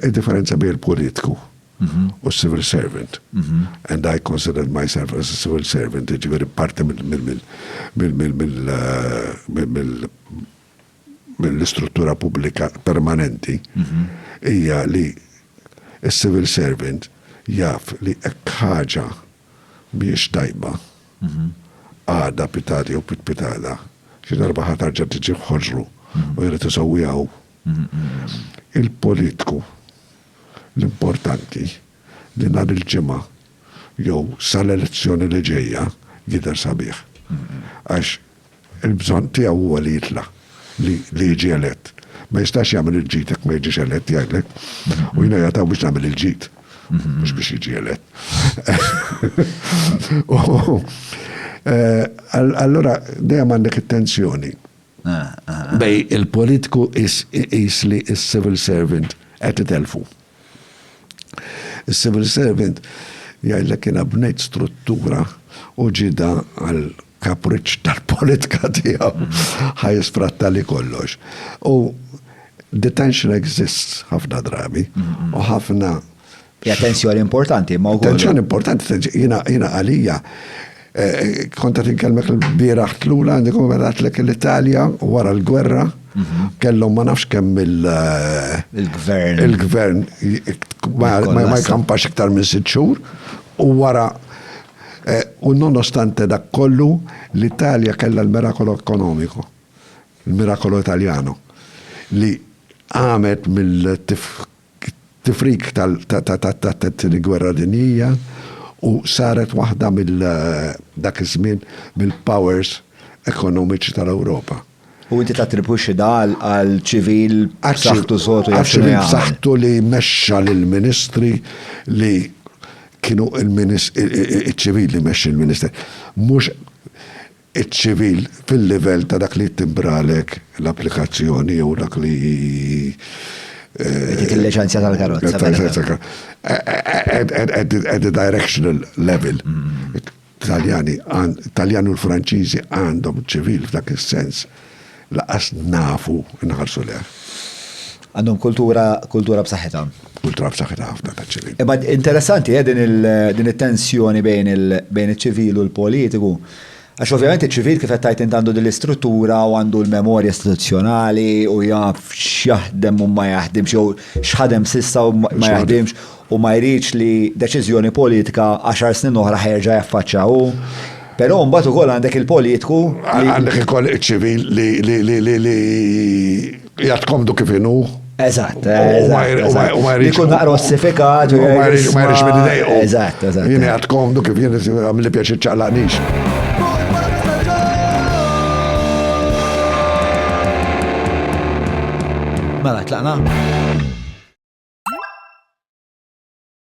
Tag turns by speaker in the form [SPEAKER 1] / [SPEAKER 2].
[SPEAKER 1] Id-differenza bejn il-politiku u s-civil servant, and I consider myself as a civil servant, jiġifieri parti mill-istruttura pubblika permanenti, hija li s-civil servant jaf li hekk ħaġa mhijiex tajba, għada, pitgħada jew pitpitada, xi darba ħa terġa' tiġi f'ħoġru u jrid isewwiha hu. Il-politku l-importanti li nhar il-Ġimgħa jew sal-elezzjoni li ġejja jidher sabiħ. Għax il-bżonn tiegħu huwa li jitla', li jiġi elett. Ma jistax jagħmel il-ġid jekk ma jiġix elett jgħidlek. U jiena jataw biex nagħmel il-ġid, mhux biex jiġi elett. Allura dejjem għandek it-tensjoni. Bej il-politiku iqis li s-civil servant qed itelfu. Is-civil servant jgħidlek jiena bnejt struttura u ġida għal kapriċċ tal-politika tiegħu ħajisfratta li kollox. U detention exists ħafna drabi u ħafna Hija tensjoni
[SPEAKER 2] importanti, ma wkoll. Tensjoni importanti,
[SPEAKER 1] jiena għalija. Eh, konta tinkellmek l-bieraħ tlula għandi kum għatlek l-Italja wara l-gwerra mhm. kellhom ma nafx kemm il- eh, gvern il-gvern ma jkampax iktar minn sitt xhur u wara eh, u nonostante dak kollu l-Italja kellha l-mirakolo ekonomiku, l-mirakolo Italjano li għamet mill-tif tifrik tat-tieni gwerra dinjija u saret waħda mill dak iż-żmien mill-powers ekonomiċi tal-Ewropa. U inti
[SPEAKER 2] tattribwixxi dan għal ċivil b'saħħtu sod u jaf x'inhu jagħmel. Ċivil b'saħħtu li
[SPEAKER 1] mexxa lill-ministri li kienu l-ministri, iċ-ċivil li mexxi l-ministri. Mhux iċ-ċivil fil-livell ta' dak li jittimbralek l-applikazzjoni jew dak li. Dik
[SPEAKER 2] il-liċenzja tal-karozza. At
[SPEAKER 1] the directional level. Taljani, Taljani u l-Franċiżi għandhom ċivil f'dak is-sens. Lanqas nafu nħarsu lejh. Għandhom
[SPEAKER 2] kultura, kultura b'saħħitha. Kultura b'saħħitha
[SPEAKER 1] ħafna ta' ċivil. Imma interessanti eh,
[SPEAKER 2] din it-tensjoni bejn iċ-ċivil u l-politiku. Għax ovvjament iċ-ċivil kif qed tgħid għandu din l-istruttura u għandu l-memorja istituzzjonali u jaf x'jaħdem u ma jaħdimx jew x'ħadem sissa u ma jaħdimx u ma jridx li deċiżjoni politika għaxar snin oħra ħa jerġa' jaffaċċja hu. Però mbagħad ukoll għandek il-politku li. Għandek ukoll
[SPEAKER 1] iċ-ċivil li jgħid komdu kif inhu. Eżatt,
[SPEAKER 2] eżatt. U ma jridx. Ikun naqra ossifikat. U ma jridx ma jridx minn
[SPEAKER 1] idejqu. Eżatt, eżatt. Jien qed
[SPEAKER 2] komdu kif
[SPEAKER 1] jien għamli pjaċi ċaqlaqnix.
[SPEAKER 2] Mela tlaqna?